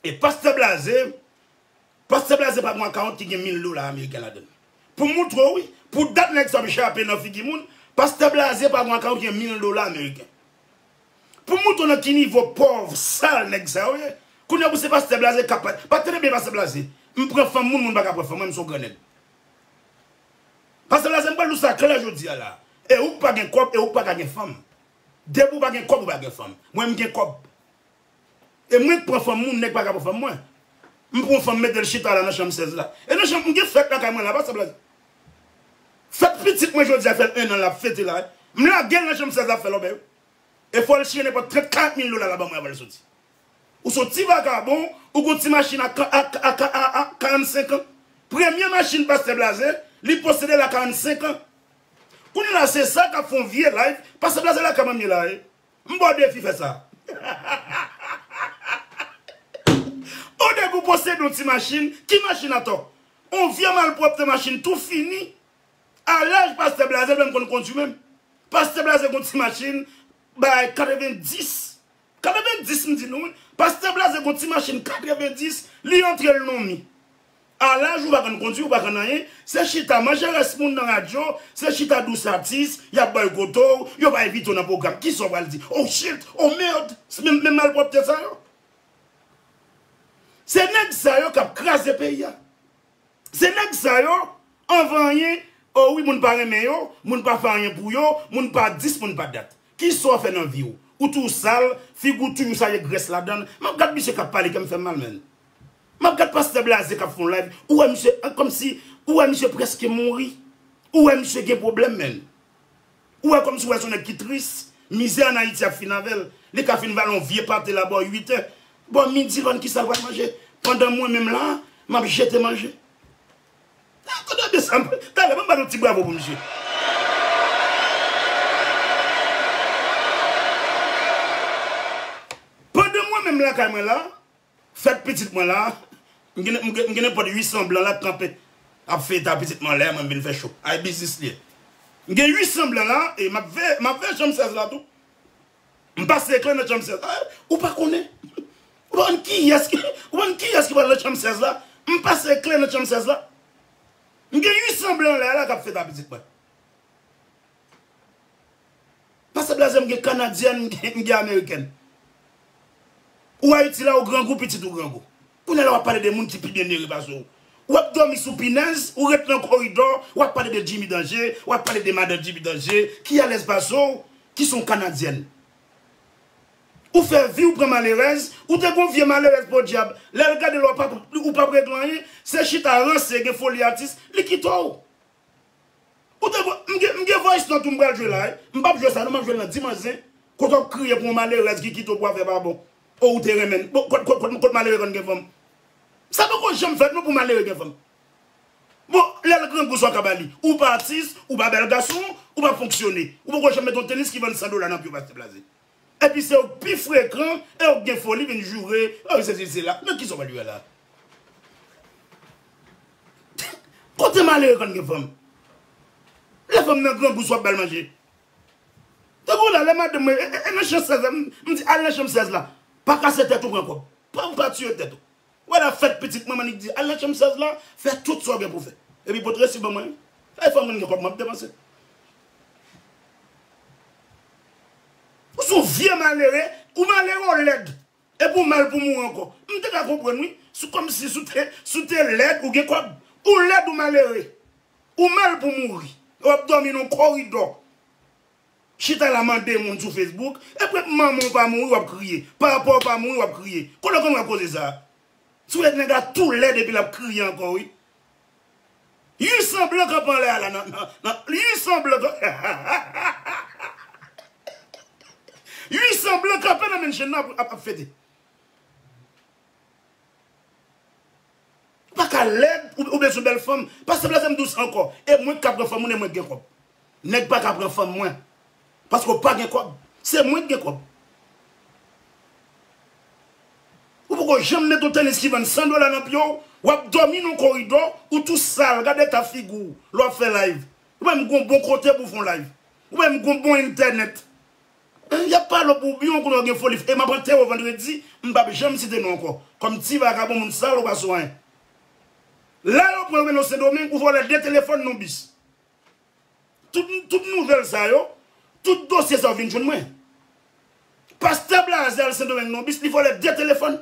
E pastè blaze, pastè blaze pa gon akawont ki gen mil dola ameriken ladann. Poum moutre w wi, pou dat nèg sa ap jape nan figi moun, pastè blaze pa gon akawont ki gen mil dola ameriken. Poum moutre w nan ki nivo pòv, sal nèg sa yo ye, kounye pou se pastè blaze kap pa, pa tande byen pastè blaze, m pran fanm moun, moun pa ka pran fanm mwen, m son gran nèg. Pastè blaze m pral di w sa klè jodi a la, e ou k pa gen kòb, e ou k pa ka gen fanm. Depi ou pa gen kob ou pa gen fanm. Mwen m gen kob. E mwen k pran fanm moun neg paka pran fanm mwen. M pran yon fanm m metel chita la nan chanm 16 la. E nan chanm m gen fèt lakay mwen la pa sa blaze. Fèt pitit mwen jodi a fèl 1 an lap fete la. M lagel nan chanm 16 lap fè lòbèy wi. E fòl chire nenpòt 30 40 mil dola la banmwen avanl soti. Ou son ti vagabon ou gon ti machin a 45 an. Premye machin pastè blaze li posedel a 45 an. Kounye la se sa kap fon vye live pase blaze lakay manmie la e m baw defi fè sa on nèg ou posede on ti machine ki machine atò on vye malpwòpte machine tou fini a laj pastè blaze l pa menm konn kondwi menm pastè blaze gon ti machine bay 90 90 m di nou wi Pastè Blaze gon ti machin 90 li antrel non mi a laj ou pa konn kondwi ou pa konn anyen se chita manje rès moun nan radyo se chita dous atis yap bòykote w yo pa envite w nan pwogram kisa w pral di oh shit oh merd se menm malpwòpte sa yo se nèg sa yo kap kraze peyi a. Se nèg sa yo anvan anyen oh wi moun pa renmen yo moun pa fè anyen pou yo moun pa dis moun pa dat kisa w fè nan vi w ou toujou sal figi w toujou sal gen grès ladann map gad misye kap pale kèm fèm mal menn map gad pastè blaze kap fon live ou wè misye kòmsi ou wè misye prèske mouri ou wè misye gen pwoblèm menn. Ou wè kòmsi ou wè son nèg ki tris, mizè an Ayiti ap fin avèl, li ka fin vale yon vye pate la bò 8 è, bò midi lòn kisal pral manje pandan mwen menm la map jete manje. Tande de sa, talè banm banou ti bravo pou misye. Pandan mwen menm lakay mwen la, Fèt pitit mwen la, m gen nenpòt 800 blan la k kanpe ap fè eta pitit mwen lè mwen m vin fè cho. Ay biznis li ye. M gen 800 blan la e m ap veye, m ap veye chanm 16 la tou. M pase kle nan chanm 16 la. Ou pa konnen, ou pa konn kiyès ki, ou pa konn kiyès ki pral nan chanm 16 la. M pase kle nan chanm 16 la. M gen 800 blan lè la k ap fè eta pitit mwen. Pase blaze m gen kanadyèn m gen amerikèn. Ou ayiti la ou grangou pitit ou grangou. Kounya la wap pale de moun ki pi byen mere pase w. Wap domi sou pinèz ou ret nan koridò wap pale de Jimmy Danje wap pale de madan Jimmy Danje ki alèz pase w ki son kanadyèn. Ou fè vi w pran malerèz ou te gon vye malerèz podyab lèl gade l ou pap regle anyen se chita ranse gen foli atis li kite w. Ou te vwa, m gen m gen voice note ou m pral jwe la wi, m pap jwe sa non map jwel nan dimanche zen, kote wap kriye pou yon malerèz ki kite w pou afè pa bon, oh ou te renmenn, bon kot kot kot malere konn gen fanm, sa poko janm fèt non pou malere gen fanm, bon lèl grangou sa w ka bali, ou pa atis, ou pa bèl gason, ou pa fonksyone, ou poko janm met yon tenis ki vann 100 dola nan pye w pa se blaze. Epi se ou k pi frekan e ou k gen foli vin joure oh se sisi la men kisa w pral jwe la Kote malere konn gen fanm Lè fanm nan grangou sa w ap bal manje Tankou la lè madanm mwen e nan chan 16 la m di al nan chanm 16 la pa kase tèt ou pran kòb pa tiye tèt ou. Wè la fèt pitit manman li k di al nan chanm 16 la fè tout sa w gen pou w fè epi pot resi ban mwen èy fòm vin gen kòb map depanse ou son w vye malere ou malere w lèd epi w mal pou mouri ankò m te ka konprann wi sou kòmsi sou te si w te lèd ou gen kòb ou lèd ou malere ou mal pou mouri e wap dòmi nan w koridò. Chita la mande moun sou Facebook epre manman w pa mouri wap kriye papa w pa mouri wap kriye kote w konn wè koze sa sou et nèg la tou lèd epi lap kriye ankò wi ui san blan kap anlè a la nan nan ui san blan kap hahahahahahaha ui san blan kape nan menn chen nan ap fete. Ou pa ka lèd, ou bezwen bèl fanm. Pa sanble avèm dous ankò. E mwen ki ka pran fanm moun e mwen ki gen kòb. Nèg pa ka pran fanm mwen. Paske ou pa gen kòb. Se mwen ki gen kòb. Ou poko janm met yon tenis ki vann 100 dola nan pye w. W ap dòmi nan yon koridò, ou tou sal, gad eta figi w lè w ap fè live. Ou pa menm gen yon bon kote pou w fè yon live. Ou pa menm gen yon bon entènèt. Y ap pale w pou biwo koulè w gen foli e m ap antere w vandredi m p ap janm site non w ankò kòm ti vagabon moun sal ou pa sou anyen la yo pran w mennen w sendomeng ou vòlè 2 telefòn n on bis tout tout nouvèl sa yo tout dosye sa yo vin jwenn mwen pastè blaze al sendomeng n on bis li vòlè 2 telefòn.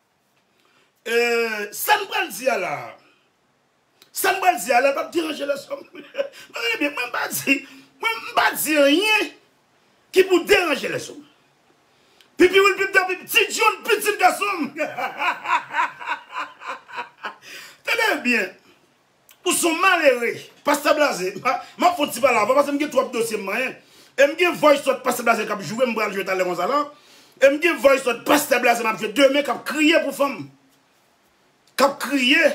Eeh sam pral di a la. Sam pral di a la pap deranje lèzòm. Nou gade byen mwen pa di mwen pa di anyen ki pou deranje lèzòm. Pipi Wil pipda pipi ti dyòl pitit gasonm hahahahahahaha tande byen. Ou son malere pastè blaze map fon ti pale avèw pasem gen twòp dosye m manyen em gen voice note pastè blaze kap joure m pral jwe talè konsa la em gen voice note pastè blaze map jwe demen kap kriye pou fanm kap kriye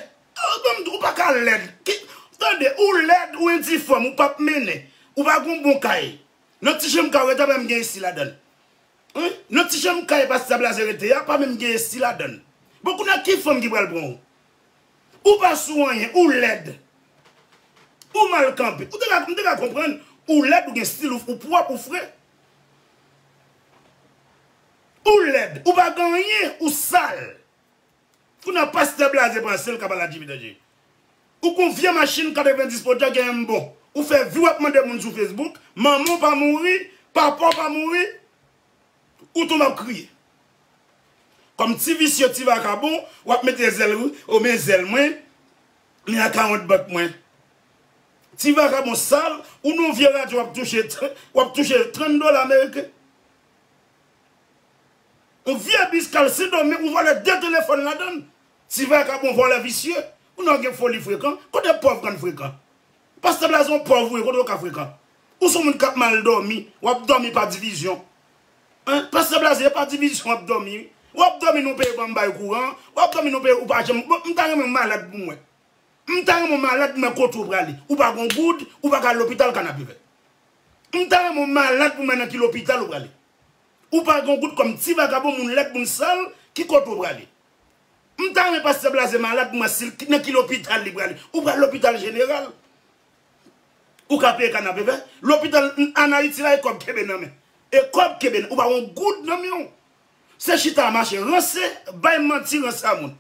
ou paka lèd tande ou lèd ou endifòm ou pap mennen ou pa gon bon kay nan ti chanm kay ou rete a pa menm gen esi ladann nan ti chanm kay pastè blaze rete a pa menm gen esi ladann bon kounye a ki fanm ki pral pranw Ou pa sou anyen, ou lèd. Ou mal kanpe. Ou te ka, m te ka konprann ou lèd, ou gen stil ou, ou pwòp, ou fre. Ou lèd, ou pa gen anyen, ou sal. Kounye a pastè blaze panse l ka pale a JP Danje. Ou kon vye machin 90 poda gen yon m bon. Ou fè vi w ap mande moun sou Facebook, manman w pa mouri, papa w pa mouri. Ou tou map kriye. Kòm ti visye ti vakabon wap mete zèl ou o men zèl mwen men akawont bank mwen ti vakabon sal ou non vye radyo wap touche wap touche 30 dola ameriken on vye bis kal sendomen ou vòlè 2 telefòn ladann ti vakabon vòlè visye ou non gen foli frekan kote pòv konn frekan Pastè blaze ou pòv vre kote ou ka frekan ou son moun kap mal dòmi wap dòmi pa divizyon hein pastè blaze e pa divizyon wap dòmi wi wap dòmi nou peye banm bay kouran wap dòmi nou peye ou pa janm bon m ta renmen ou malad pou mwen m ta renmen ou malad pou mwen kote ou prale ou pa gon goud ou pa ka al lopital kanapevè m ta renmen ou malad pou mwen nan ki lopital ou prale ou pa gon goud kòm ti vagabon moun lèd moun sal ki kote ou prale. Mta renmen pastè blaze malad mwen sil nan ki lopital li prale ou pral lopital jeneral ou ka peye kanapevè lopital an ayiti la e kòb kenbe nan men e kòb kenbe nan ou pa gon goud nan menw se chita mache ranse bay manti ranse a moun.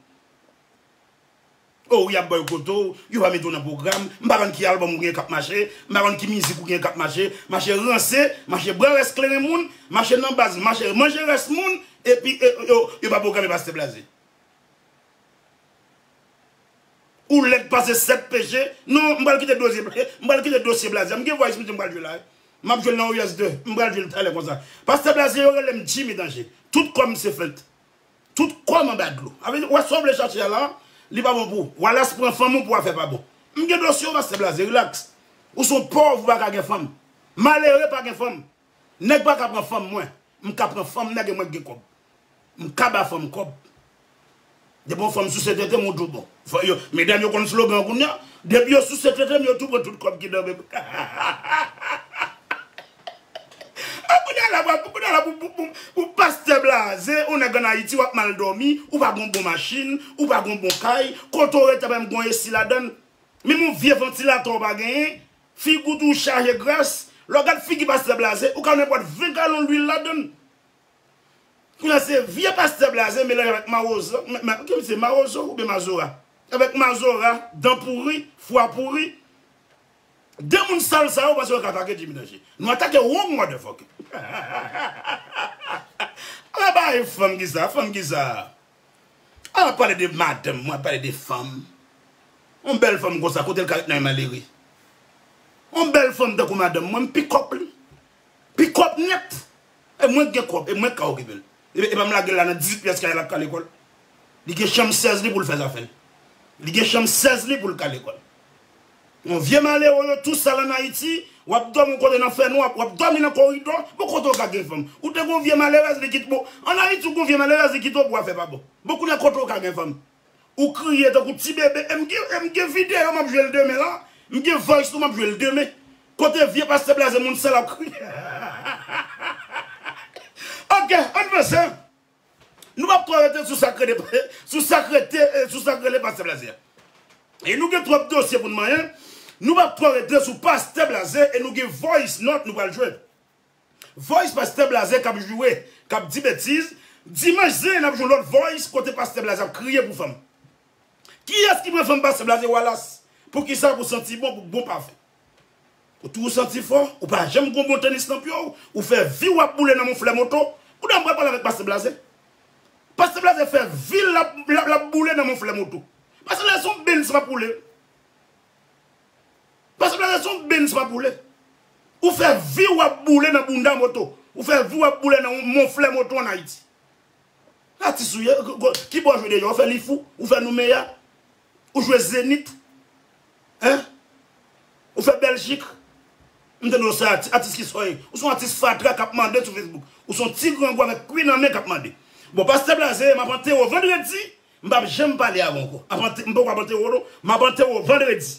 Oh wi yap baw kote w, yo pa mete w nan pwogram, m pa konn ki album ou gen kap mache, m pa konn ki mizik ou gen kap mache, mache ranse, mache bwè rès kleren moun, mache nan baz, mache manje rès moun, epi yo pa pwograme Pastè Blaze. Ou lèd pase 7 peche, non m pral kite dosye m pral kite dosye Blaze a, m gen vwa esplike m pral jwe la wi, map jwe l nan Warriors 2, m pral jwe l talè konsa. Pastè Blaze yo rele m Jimmy Danje, tout kò m se fent. Tout kòm anba dlo. Sa vle di ou wè sa ou vle chache a la, li pa bon pou ou. Wallace pran fanm ou pou afè pa bon. M gen dosye ou pastè blaze relax. Ou se yon pòv ou pa ka gen fanm. Malere pa gen fanm. Nèg pa ka pran fanm mwen. M ka pran fanm nèg e mwen k gen kòb. M ka ba fanm kòb. Depi yon fanm souse tete m ou tou bon. Medam yo konn slogan kounya. Depi yo souse tete m yo tou pran tout kòb ki nan men m. Ah kounye a la wap kounye a la pou pou pou pou pastè blaze ou nèg an ayiti wap mal dòmi ou pa gon bon machin ou pa gon bon kay kote w rete a pa menm gon esi ladann menm yon vye vantilatè w pa genyen figi w tou chaje gras lè w gad figi pastè blaze ou ka wè nan pòt 20 galon lwil ladann kounye a se vye pastè blaze melanje avèk mawozo men kiyès se mawozo oubyen mazora avèk mazora dan pouri fwa pouri. 2 moun sal sa yo panse yo ka atake Jimmy Danger. Nou atake wrong motherfucker. Ala bagay fanm ki sa, fanm ki sa. A la pale de madanm mwen, pale de fanm. Yon bèl fanm konsa kote l ka ret nan men malere. Yon bèl fanm tankou madanm mwen, m pi kòk li. Pi kòk nèt. E mwen k gen kòb, e mwen k ka okipe l. E pa m lage l la nan 18 pyès kay la l ap kale kò l. Li gen chanm 16 li pou l fè zafè l. Li gen chanm 16 li pou l kale kò l. Bon vye malere yo tou sal an ayiti wap domi ou konnen nan fè nwa wap domi nan koridò bon kote ou ka gen fanm ou te gon vye malerèz li kit bon an ayiti ou gon vye malerèz li kite ou bwa fè pa bon bon kounye a kote ou ka gen fanm ou kriye tankou ti bebe em gen em gen video map jwel demen la m gen voice nou map jwel demen kote vye pastè blaze moun sal ap kriye ok ann vanse. Nou pap ko rete sou sak rele sou sak rete sou sak rele pastè blaze e nou gen trop dosye poun manyen nou pap ko rete sou pastè blaze e nou gen voice note nou pral jwe voice pastè blaze kap joure kap di betiz dimanch zen nap jwe lot voice kote pastè blaze ap kriye pou fanm kiyes ki pran fanm pastè blaze walas poukisa pou santi bon pou bon pafen. Ou toujou santi fò, ou pa janm gon bon tenis nan pye w, ou fè vi w ap boule nan monflè moto. Kounya m pral pale avèk Pastè Blaze. Pastè Blaze fè vi l l ap boule nan monflè moto. Pastè Blaze se yon Benz pa poule. Pastè Blaze se yon Benz pa poule. Ou fè vi w ap boule nan bounda moto. Ou fè vi w ap boule nan yon monflè moto an Ayiti. Atis ou ye, ki bò w jwe deja? Ou fè li fou? Ou fè noumeya? Ou jwe zenith hein Ou fè Belgique M tande w sa a ti atis ki soy Ou son atis fatra kap mande sou Facebook Ou son ti grangou avèk kwi nan men kap mande Bon pastè blaze map antere w vandredi M pap janm pale avè w ankò M poko ap antere w non Map antere w vandredi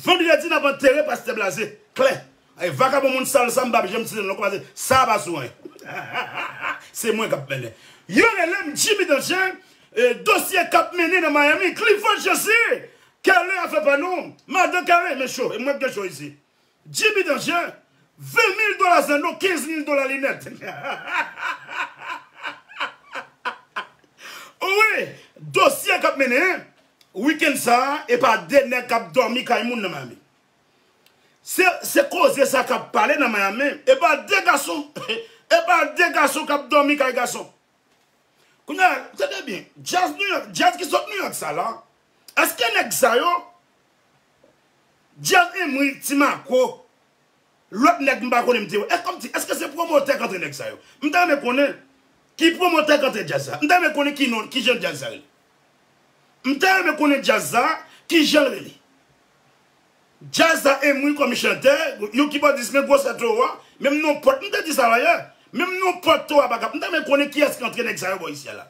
Vendredi nap antere pastè blaze klè e vakabon moun sal sa m pap janm site non paske sa pa sou anyen se mwen kap mennen yo relem Jimmy Danger e dosye kap mennen nan Miami Clifford José Kerley afè pa nou madan Kerley men cho e mwen k gen cho isi Jimmy Danje, 20 mil dola zen nou, 15 mil dola linèt. O wi, dosye k ap mennen, wikenn sa a, e pa de nèg k ap dòmi kay moun nan Miami. Se koze sa k ap pale nan Miami, e pa de gason, e pa de gason k ap dòmi kay gason. Kounye a, tande byen, djaz New York, djaz ki sot New York sa la, Eske nèg sa yo, Dyaz Emory, Ti Mako, lòt nèg m pa konnen m te wè, kòm si, eske se pwomotè k antre nèg sa yo? M ta renmen konnen ki pwomotè k antre djaz sa. M ta renmen konnen ki non, ki jan djaz sa rele. M ta renmen konnen djaz sa, ki jan l rele. Djaz sa Emory kòm chantè, yon kibòdis men gwosè towo a, menm non pòt, m te di sa dayè, menm non pòt towo a pa ka, m ta renmen konnen kiyès k antre nèg sa yo bò isi a la.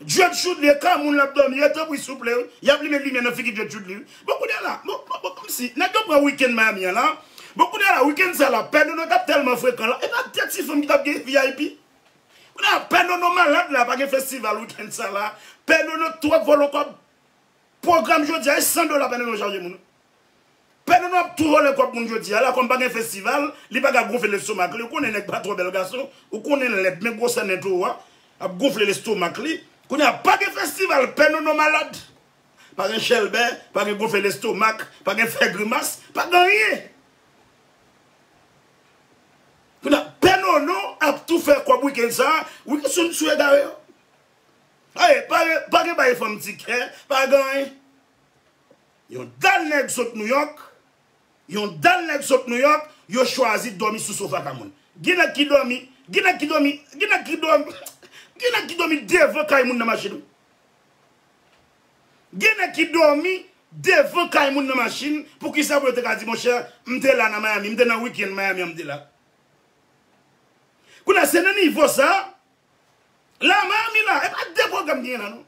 Djed chudly e kay moun lap domi e tanpri souple wi yap limen limyè nan figi djed chudly wi bon kounya la bon bon komsi nèg yo pran weekend miami an la bon kounya la weekend sa la pè nono tap tèlman frekan la epa de ti fanm ki tap gen vip kounya la pè nono malad la pa gen festival weekend sa la pè nono twòp vòlò kòb pwogram jodia e 100 dola pè nono chaje moun Pè Dodo ap tou vòlè kòb moun jodi a la kòm pa gen festival li pa ka gonfle lestomak li ou konnen nèg pa twò bèl gason ou konnen lèd men gwosè nen toro a ap gonfle lestomak li kounye a pa gen festival pè Nono malad pa gen chèlbè pa gen gonfle lestomak pa gen fè grimas pa gen anyen kounye a pè Nono ap tou fè kòb wikenn sa wikenn sou egare yo pa gen bay fanm ti kè pa gen anyen. Yon dal nèg sot Nouyòk, yon dal nèg sot Nouyòk, yo chwazi dòmi sou sofa kay moun. Gen nèg ki dòmi, gen nèg ki dòmi, gen nèg ki dò, gen nèg ki dòmi devan kay moun nan machin wi. Gen nèg ki dòmi devan kay moun nan machin, poukisa pou yo te ka di monchè, m te la nan Miami, m te nan weekend Miami an m te la. Kounye a se nan nivo sa, la Miami la, e pa 2 pwogram ki gen la non.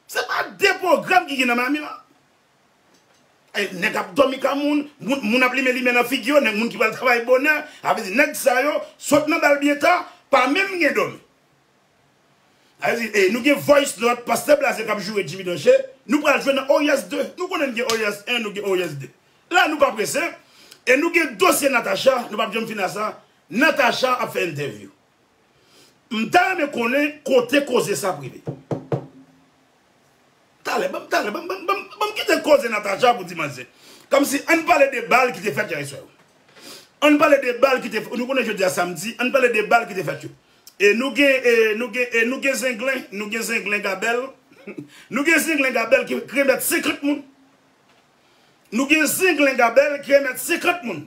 Se pa de pwogram ki gen nan Miami la. Nèg ap dòmi ka moun, moun ap limen limè nan figi yo, nèg moun ki pral travay bonè, sa vle di nèg sa yo sot nan bal byen ta, pa menm gen dòmi. Sa vle di nou gen voice note pastè blaze kap joure JB Danje, nou pral jwenn nan Oryans 2, nou konnen n gen Oryans 1, nou gen Oryans 2. La nou pa prese, e nou gen dosye Natacha, nou pap janm fin a sa, Natacha ap fè entèvyou. M ta renmen konnen kote koze sa ap rive. Talè, banm talè, banm kite koze Natacha pou dimanch se. Komsi ann pale de bal ki te fèt yè swa yo. Ann pale de bal ki te fèt, nou konnen jodi a samdi, ann pale de bal ki te fèt yo. E nou gen, e nou gen, e nou gen zenglen, nou gen zenglen Gabèl, nou gen zenglen Gabèl ki remèt 50 moun. Nou gen zenglen Gabèl ki remèt 50 moun.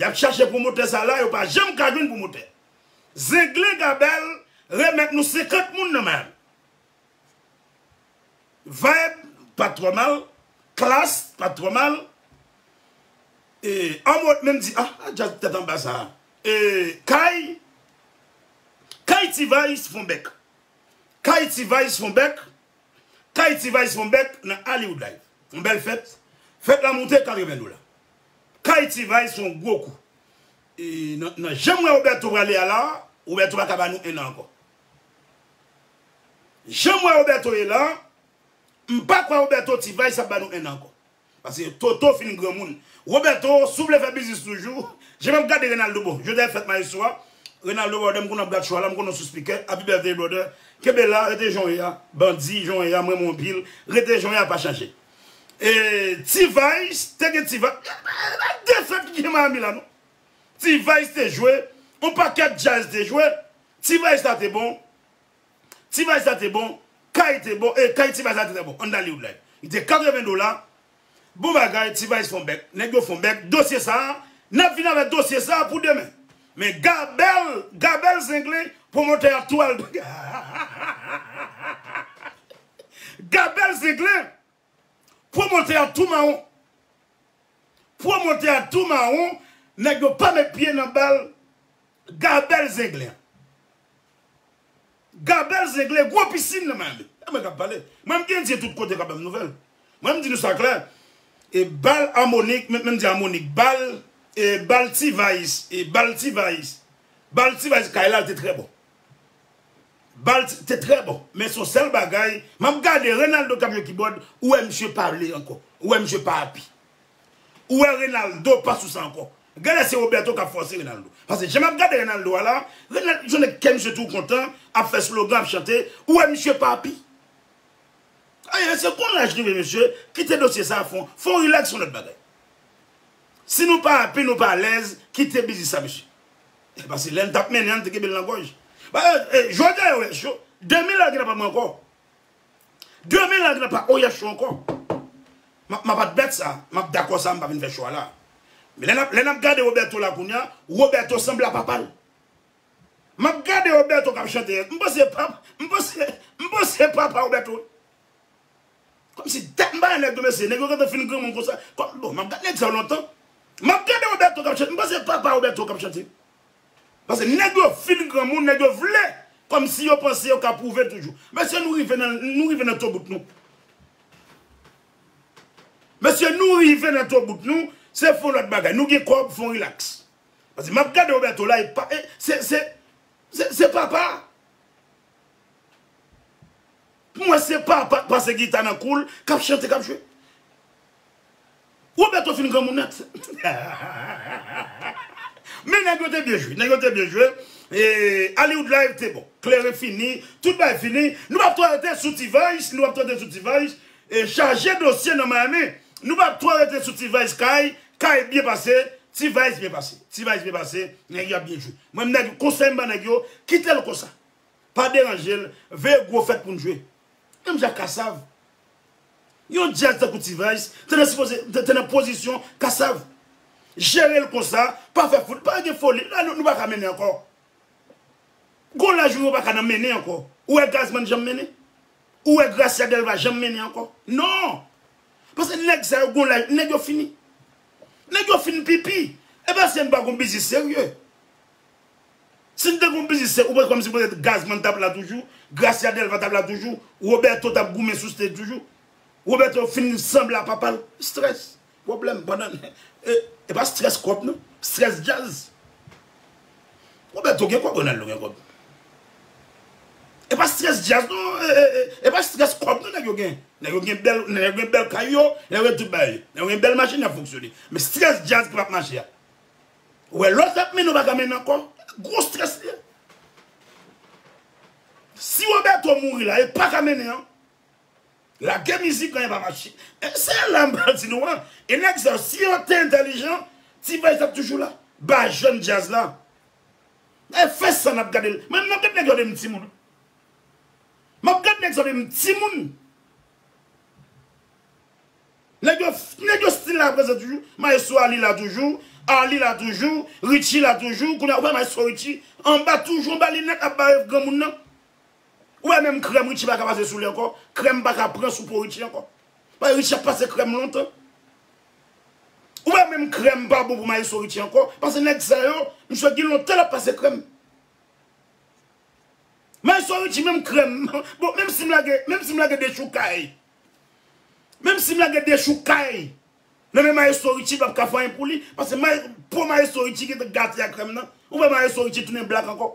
Yap chache pwomotè sa la yo pa janm ka jwenn pwomotè. Zenglen Gabel remèt nou 50 moun nan Miami. Vibe pat twò mal, Klass pat twò mal. Anmwey menm di ah jazz tèt anba sa. Kay Kay T-vice fon bèk. Kay T-vice fon bèk. Kay T-vice fon bèk nan Hollywood Live. Yon bèl fèt. Fèt la moute 80 dola. Kay T-vice se yon gwo kou. Nan janm wè Roberto prale a la, Roberto pa ka ba nou 1 an ankò. Janm wè Roberto ye la, m pa kwè Roberto T-vice ap ba nou 1 an ankò. Pase Toto fin granmoun. Roberto, si w vle fè biznis toujou, jan m ap gade Renaldo bon, jodi a se fèt Maestro a, Renaldo brother m konnen w ap gad show a la, m konnen w sispike, Happy Birthday brother, kenbe la, rete jan w ye a, Bandi, jan w ye a, m renmen w anpil, rete jan w ye a pa chanje. T-vice te gen T-vice e pa defèt ki gen Miami la non T-vice te jwe yon pakèt jazz te jwe T-vice la te bon T-vice la te bon kay te bon e kay T-vice la te trè bon an Dali Woodline li te 80 dola bon bagay T-vice fon bèk nèg yo fon bèk dosye sa a n ap vin avè dosye sa a pou demen men Gabèl Gabèl Zenglen pwomotè a tou al hahahahahahahaha. Gad bèl zenglen. Pwomotè a tou mawon. Pwomotè a tou mawon nèg yo pa met pye nan bal gad bèl zenglen. Gad bèl zenglen gwo pisin nan Miami. E mwen kap pale. Mwen m gen dye tout kote kap banm nouvèl. Mwen m di nou sa klè e bal amonik men m di amonik bal e bal T-vice e bal T-vice bal T-vice kay la te trè bon. Bal te trè bon men son sèl bagay map gade Renaldo kap jwe kibòd ou wè misye pa vle ankò ou wè misye pa api ou wè Renaldo pa sou sa ankò genlè se Roberto kap fòse Renaldo pase jan map gade Renaldo a la Renaldo son nèg kè misye tou kontan ap fè slogan ap chante ou wè misye pa api ayè se kon laj rive mesye kite dosye sa fon fon relax son lòt bagay si nou pa api nou pa alèz kite biznis sa mesye. Pase lèl tap mennen an li te kenbel nan gòj. Jodi a OH yo, demen lal gen nan pa mwen ankò. Demen lal gen nan pa OH yo ankò. Map admèt sa, map dakò sa mpa vin fè cho a la. Lè nap gade Roberto la kounya, Roberto sanble a papal. Map gade Roberto kap chante, mpanse papa Roberto. Komsi tèt m pa nan nèg yo mesye, nèg yo gentan fin granmoun konsa, kom bon map gad nèg sa yo lontan, map gade Roberto kap chante m panse se papa Roberto kap chante, pase nèg yo fin granmoun nèg yo vle komsi yo panse yo ka pwouve toujou, mesye nou rive nan nou rive nan tobout nou, mesye nou rive nan tobout nou, se fon lot bagay, nou gen kob fon relax, pase map gade Roberto la e pa e se se se papa. Pou mwen se papa k pase gita nan kou l k ap chante k ap jwe. Roberto fin granmoun nèt. Men nèg yo te byen jwe. Nèg yo te byen jwe. Hollywood live te bon. Klere fini. Tout bagay fini. Nou pa p twò rete sou T-Vice. Nou pa p twò rete sou T-Vice. Chaje dosye nan Miami. Nou pa p twò rete sou T-Vice kay. Kay byen pase, T-vice byen pase. T-vice byen pase, nèg yo ap byen jwe. Mwen menm nèg, konsèy m ban nèg yo, kite l konsa. Pa deranje l, veye gwo fèt pou n jwe. Menm jan ak Kassav. Yon djaz tankou T-vice, te nan sipoze, te nan pozisyon Kassav. Jere l konsa, pa fè foul, pa gen foli, la nou pa ka mennen ankò. Gon laj ou yo paka nan mennen ankò. Ou wè Gazman janm mennen? Ou wè Gracia Delva janm mennen ankò? Non! Paske nèg sa yo gon laj, nèg yo fini. Nèg yo fin pipi. E pa si n pa gon biznis serye. Si n te gon biznis serye, ou panse kòmsi petèt Gazman t ap la toujou, Gracia Delva t ap la toujou, Roberto t ap goumen sou stage toujou? Roberto fin sanble a papa l. Stress. Pwoblèm pandan e pa strès kòb non strès djazz Roberto gen kòb Ronaldo gen kòb e pa strès djazz non e pa strès kòb non nèg yo gen nèg yo gen bèl nèg yo gen bèl kay yo nèg yo gen tout bagay nèg yo gen bèl machin y ap fonksyone men strès djazz ki p ap mache a ou wè lòt ap mennen ou pa ka mennen ankò gwo strès li ye si Roberto mouri la e pa ka mennen an. Lage mizik anyen pa mache. Se la m pral di nou an. E nèg sa yo si yo te entèlijan ti Bèj tap toujou la. Ba jèn djaz la. E fè sa n ap gade l. Mwen menm m ap gade nèg yo de m ti moun. M ap gade nèg sa yo de m ti moun. Nèg yo nèg yo stil la prezan toujou. Maestro Arly la toujou. Arly la toujou. Richie la toujou. Kounye a ou wè maestro Richie anba toujou anba linèt ap bare granmoun nan. Ou wè menm krèm Richie paka pase sou li ankò, krèm paka pran sou po Richie ankò. Paske Richie ap pase krèm lontan. Ou wè menm krèm pa bon pou maestro Richie ankò, paske nèg sa yo, misye gen lontan lap pase krèm. Maestro Richie menm krèm, bon menm si m lage, menm si m lage dechoukay, menm si m lage dechoukay nan men maestro Richie l pap ka fè anyen pou li, paske po maestro Richie gentan gate ak krèm nan. Ou wè maestro Richie tounen blak ankò.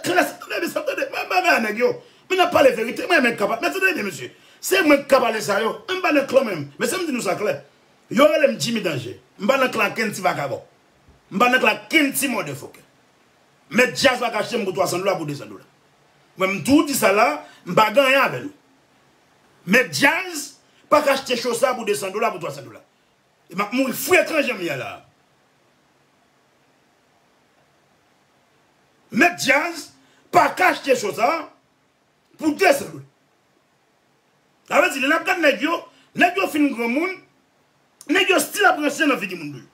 Tres enteresan tande men bagay a nèg yo men nap pale verite mwen renmen kap men tande byen mesye se mwen kap pale sa yo men mpa nan klan mwen mesye mdi nou sa klè yo relem Jimmy danje mpa nan klan ken ti vagabon mpa nan klan ken ti mòde fokè mèt djaz pa ka achtem pou 300 dola pou 200 dola mwen mtou di sa la mpa gen anyen avè nou mèt djaz pa ka achte cho sa pou 200 dola pou 300 dola. E map mouri frekan janm ye la. Mèt djaz paka achte show sa pou 200 goud. Sa vle di lè nap gad nèg yo, nèg yo fin granmoun, nèg yo stil ap ranse nan figi moun tou.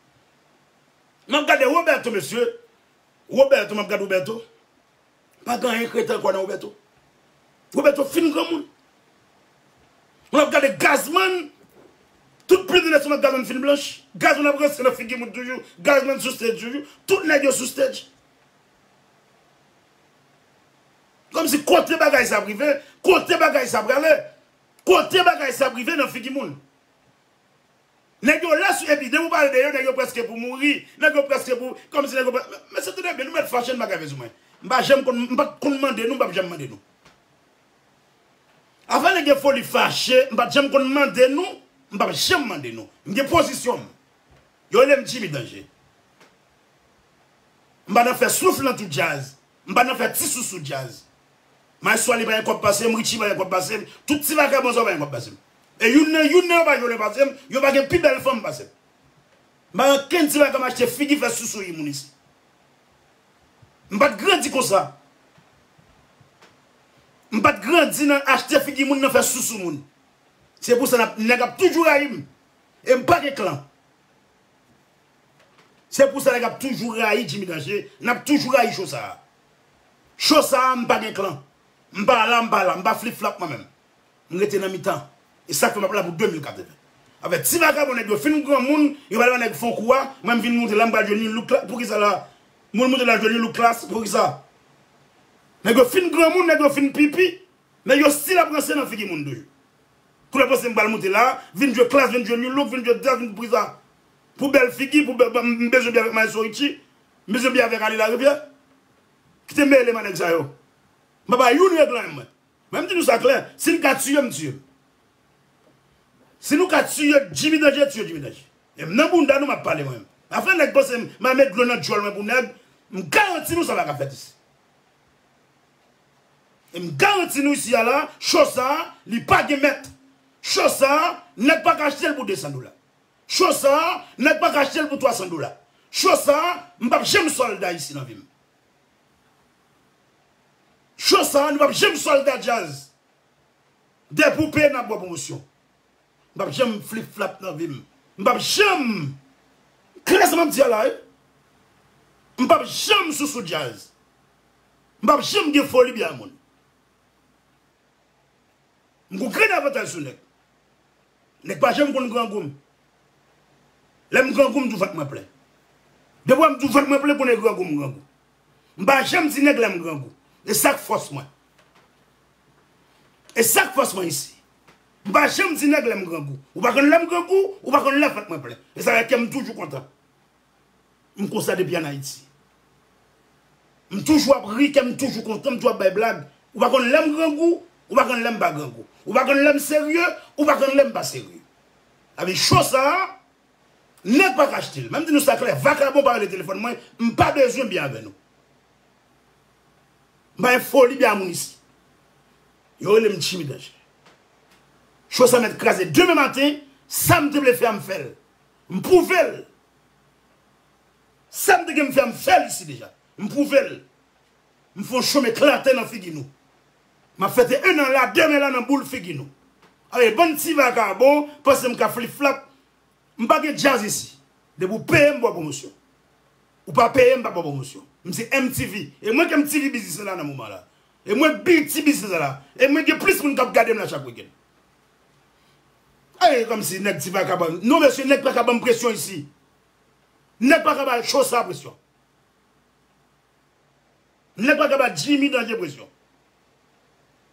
Map gade Roberto mesye, Roberto map gad Roberto. Pa gen anyen kreten ankò nan Roberto. Roberto fin granmoun. Mwen ap gade Gazzman, tout plim li met sou nòt Gazzman fin blanch. Gazzman ap ranse nan figi moun toujou. Gazzman sou stage toujou. Tout nèg yo sou stage. Kòmsi kote bagay sa ap rive? Kote bagay sa prale? Kote bagay sa ap rive nan figi moun? Nèg yo lès wi epi depi ou pale de yo nèg yo prèske pou mouri, nèg yo prèske pou, kòm si nèg yo prè, mesye tande byen nou mèt fache nou pa grave sou mwen, m pa janm konn, m pat konn mande nou m pap janm mande nou. Afè nèg gen foli fache m pat janm konn mande nou, m pap janm mande nou, m gen pozisyon m, yo rele m Jimmy Danje. M pa nan fè souf nan tout djaz, M pa nan fè ti sousou djaz. Maestwaly pa gen kòb pase m, Richie pa gen kòb pase m, tout ti vakabon sa yo pa gen kòb pase m. E youn nan youn nan yo pa jolè pase m, yo pa gen pi bèl fanm pase m. M pa nan kenn ti bagay m achte figi fè sousou yi moun isi. M pa t grandi konsa. M pa t grandi nan achte figi moun nan fè sousou moun. Se pou sa nèg ap toujou rayi m. E m pa gen klan. Se pou sa nèg ap toujou rayi Jimmy Danger, nap toujou rayi cho sa a. Cho sa a m pa gen klan. M pa la, m pa la, m pa flip flap mwen menm. M rete nan mitan. E sak fè map la pou 2080. Afè ti vagabon nèg yo fin granmoun, yo pral ban nèg fon kou a, mwen m vin moute la m pral jwe nu look la, poukisa la? Mwen moute la jwe nu look klass, poukisa? Nèg yo fin granmoun, nèg yo fin pipi, men yo stil ap ranse nan figi moun toujou. Koulè panse m pral moute la, vin jwe klass, vin jwe nu look, vin jwe djaz, vin poukisa? Pou bèl figi pou bèl m bezwen bi avèk maestro Richie m bezwen bi avèk Aly Larivière kite mele m a nèg sa yo m pa bay youn règlan m mwen men m di nou sa klè si n ka tiye m tiye l si nou ka tiye Jimmy Danje tiye Jimmy Danje e m nan bounda nou m ap pale mwen menm afè nèg panse m ma met dlo nan djòl mwen pou nèg m garanti nou sa pa ka fèt isi e m garanti nou isi a la cho sa li pa gen mèt cho sa nèg pa ka achte l pou 200 dola. Show sa nèg paka achtel pou 300 dola show sa m pap janm solda isi nan vim show sa nou pap janm solda djaz dè poupe nap bò pwomosyon m pap janm flip flap nan vim m pap janm klè sa map di a la wi m pap janm sousou djaz m pap janm gen foli byen a moun. M gon grenn avantaj sou nèg. Nèg pa janm konn grangou m. Lè m grangou m di w vant mwen plen. Depi wè m di w vant mwen plen konnen grangou m grangou. M pa janm di nèg lè m grangou. E sa k fòs mwen. E sa k fòs mwen isi. M pa janm di nèg lè m grangou. Ou pa konn lè m grangou, ou pa konn lè vant mwen plen. E sa fè kè m toujou kontan. M konsa depi an Ayiti. M toujou ap ri, kè m toujou kontan, m toujou ap bay blag. Ou pa konn lè m grangou, ou pa konn lè m pa grangou. Ou pa konn lè m serye, ou pa konn lè m pa serye. Abi show sa, nèg pa ka achte l. Mwen di nou sa klè, vakabon pa rele telefòn mwen, m pa bezwen byen avè nou. M pa gen foli byen a moun isi. Yo rele m Jimmy Danger. Show sa mèt kraze demen maten, sa m te vle fè a m fè l. M pwouve l! Sa m te gen m fè a m fè l isi deja. M pwouve l! M fè yon chom eklate nan figi nou. M ap fete ennan la, demen la nan boul figi nou. Awe bann ti vagabon panse m ka fliflap. M pa gen djaz isi. Depi w peye m pou w pwomosyon. Ou pa peye m pa pou pwomosyon. M se MTV. E mwen k MTV biznis lan la nan moman la. E mwen BET biznis lan la. E mwen gen plis moun k ap gade m la chak wikenn. Ayy kom si neg ti paka banm non mesye neg paka banm presyon isi neg paka ba cho sa presyon neg paka ba jimmy danje presyon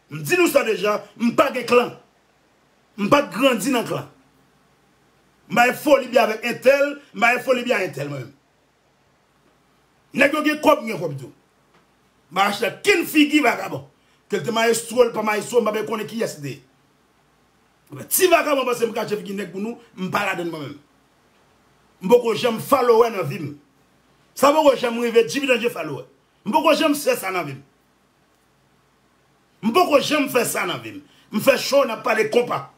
m di nou sa deja m pa gen klan m pat grandi nan klan m pa gen foli bya avek entèl m pa gen foli bya entèl mwen menm. Nèg yo gen kòb m gen kòb tou. Marach la ken figi vagabon. Kel te maestro li pa maestro m pa bèk konnen kiyès li te ye. Ebyen ti vagabon panse m kache figi nèg pou nou m pa ladann mwen menm. M poko janm followè nan vi m. Sa poko janm rive dividanje followè. M poko janm fè sa nan vi m. M poko janm fè sa nan vi m. M fè show n ap pale konpa.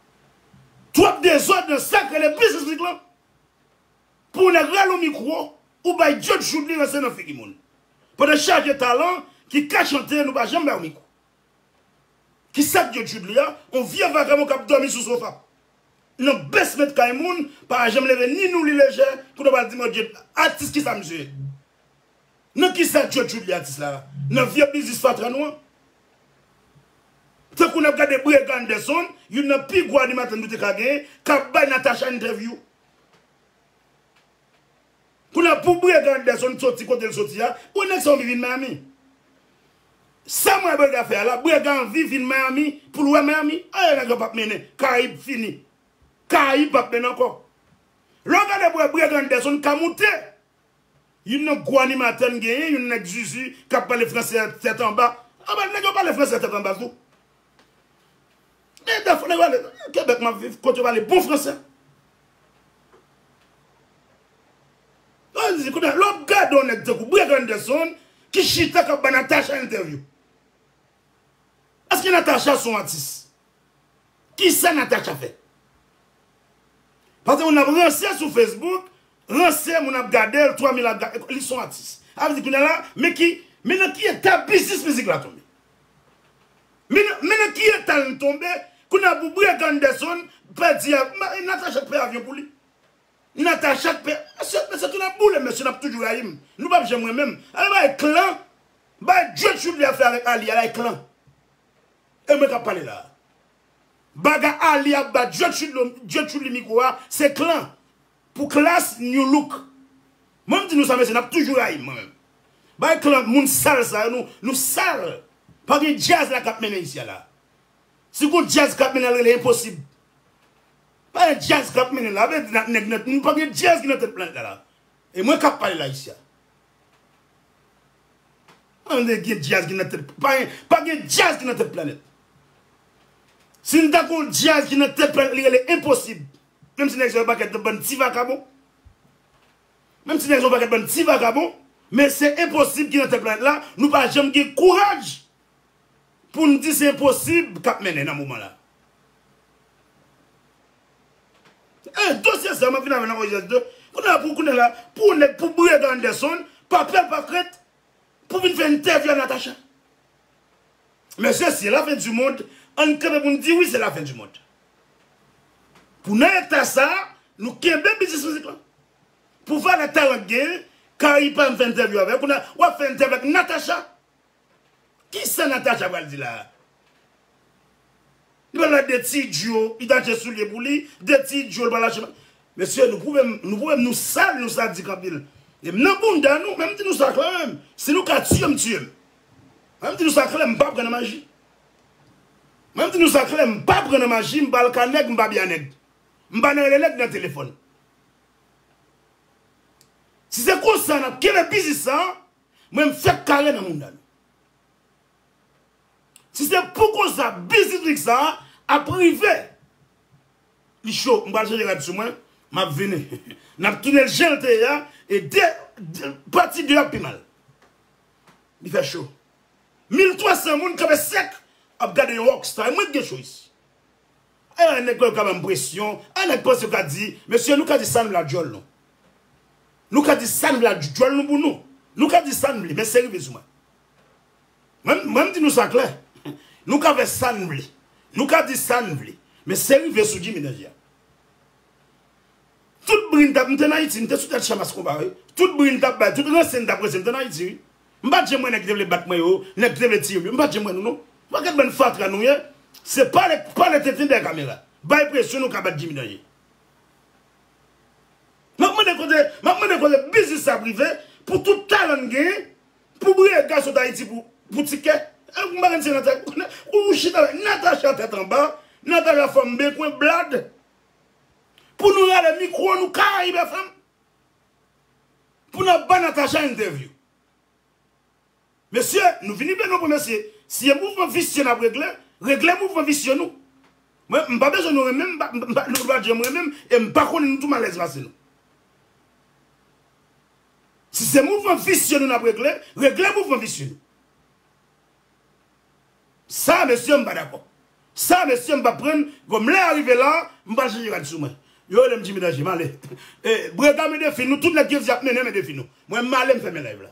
Twòp dezòd nan sa k rele biznis mizik lan. Pou yon nèg rale yon mikro ou bay djòd joud li ranse nan figi moun. Pandan chaje talan ki ka chante nou pa janm bay yon mikro. Kisak djòd joud li a yon vye vagabon kap dòmi sou sofa nan basement kay moun pa janm leve ni nou li lejè pou nou pral di mòd djòd atis kisa misye ye? Nan kisa djòd joud li atis la nan vye biznis fatra nou an? Tankou nap gade Brega Anderson youn nan pi gwo animatè nou te ka gen kap bay Natacha entèvyou Kounya pou Brega Anderson soti kotel soti a, bon nèg sa anvi vin Miami. Sam wè Brega fè a la, Brega anvi vin Miami poul wè Miami. Ayy nèg lan pap mennen, Karayib fini. Karayib pap mennen ankò. Lè w gade pou wè Brega Anderson ka moute. Youn nan gwo animatè n genyen, youn nèg zuzu kap pale fransè tèt anba. Anba nèg yo pale fransè tèt anba tou. Men defo nèg yo ale nan Quebec map viv kot yo pale bon fransè. Kounye a lè wap gade yon nèg tankou Breg Anderson ki chita kap ba Natacha entèvyou. Eske Natacha son atis? Kisa Natacha fè? Pase moun ap ranse sou Facebook, ranse moun ap gadel 3 mil ap gadel, li son atis. Sa vle di kounye a la men ki men nan ki eta biznis mizik la tonbe. Men nan ki eta n tonbe kounya pou Breg Anderson pèdi avyon Natacha t pè avyon pou li Natacha t pè mesye tounen boule mesye nap toujou rayi m nou pap janm renmen m al bay klan bay djwet Chudley a fè avèk Aly a bay klan e mwen kap pale la bagay Aly ap ba djwet Chudley mikwo a se klan Pou klass new look. Mwen m di nou sa mesye nap toujou rayim mwen menm. Bay klan moun sal sa yo nou sal. Pa gen djaz la kap mennen isi a la. Si gon djaz kap mennen al rele enposib. Pa gen djaz kap mennen la. Vle di nan nèg nan nou pa gen djaz ki nan tèt planèt la la. E mwen kap pale la isi a. An de gen djaz ki nan tèt pa gen pa gen djaz ki nan tèt planèt. Sin ta kon djaz ki nan tèt planèt li rele enposib. Menm si nèg sa yo pakèt nan bann ti vakabon. Menm si nèg sa yo pakèt bann ti vakabon. Men se enposib ki nan tèt planèt la. Nou pa janm gen kouraj pou n di se enposib k ap mennen nan moman la. E dosye sa a, m ap vin avè l nan OJS 2. Kounye a, pou kounye la, pou yon nèg, pou Briagan Anderson, pa pè pa krent, Pou vin fè entèvyou a Natacha. Mesye si se la fen du mond ann kanpe poun di wi se la fen du mond. Pou nan eta sa nou kenbe biznis mizik lan. Pou valè talan k genyen Kari pa vin fè entèvyou avèw kounya wap fè entèvyou ak Natacha. Kisa Natacha pral di la Pran lè de ti idyo li ta achte soulye pou li, de ti idyo li pral achte machin. Mesye nou pwouve m, nou pwouve m nou sal, nou sadik anpil. E m nan bounda nou, men m di nou sa klè menm, si nou ka tiye m tiye m. Mwen m di nou sa klè m pa pran nan maji. Mwen m di nou sa klè m pa pran nan maji, m pa alka nèg, m pa bya nèg. M pa nan rele nèg nan telefòn. Si se konsa n ap kenbe biznis sa, mwen m fèk kare nan bounda nou. Si se pou konsa biznis lik sa ap rive Li cho m pral chanje rad sou mwen Map vini Nap tounenl janl te ye a e de Pati 2 a ap pi mal Li fè cho Mil 300 moun kanpe sèk ap gade yon rock star e mwen ki gen cho isi A yon nèg kwè yo ka banm presyon A yon nèg panse yo ka di Mesye nou ka di sann vle ak djòl nou Nou ka di sann vle ak djòl nou pou nou Nou ka di sann vle men se rive sou mwen Mwen m di nou sa klè, nou ka fè sa n vle, nou ka di sa n vle, men se rive sou Jimmy danje a. Tout bri n t ap, m te n Ayiti, m te sou tèt chan mas konpa wi, tout bri n t ap bay, tout ranse n t ap ranse, m te n Ayiti wi. M pa t janm wè nèg ki te vle bat mwen yo, nèg ki te vle tiye m yo, m pa t janm wè nou non. Wè gad bann fatra nou ye, se pale, pale tenten dèyè kamera, bay presyon nou ka bat Jimmy danje. M ap mande kote, m ap mande kote biznis sa ap rive pou tout talan n genyen. Pou Brega sot Ayiti pou pou tikè Ou pa konn si Natacha Ou chita la Natacha tèt anba Natacha fanm bekwen blad Pou nou rale mikro nou Caraïbe FM Pou nap bay Natacha entèvyou Mesye nou vini plen nou pou mesye Si e mouvman visye nap regle Regle mouvman visye nou Mwen m pa bezwen nou renmen m Nou pa janm renmen m E m pa konnen nou tou m alèz pase nou Si se mouvman visye nou nap regle, regle mouvman visye nou. Sa mesye m pa dakò. Sa mesye m pap prann, kòm lè a rive la, m pral chanje rad sou mwen. Yo rele m Jimmy Danger, m ale. E brega men defi nou, tout nèg jezi ap mennen men defi nou. Mwen m ale m fèmen live la.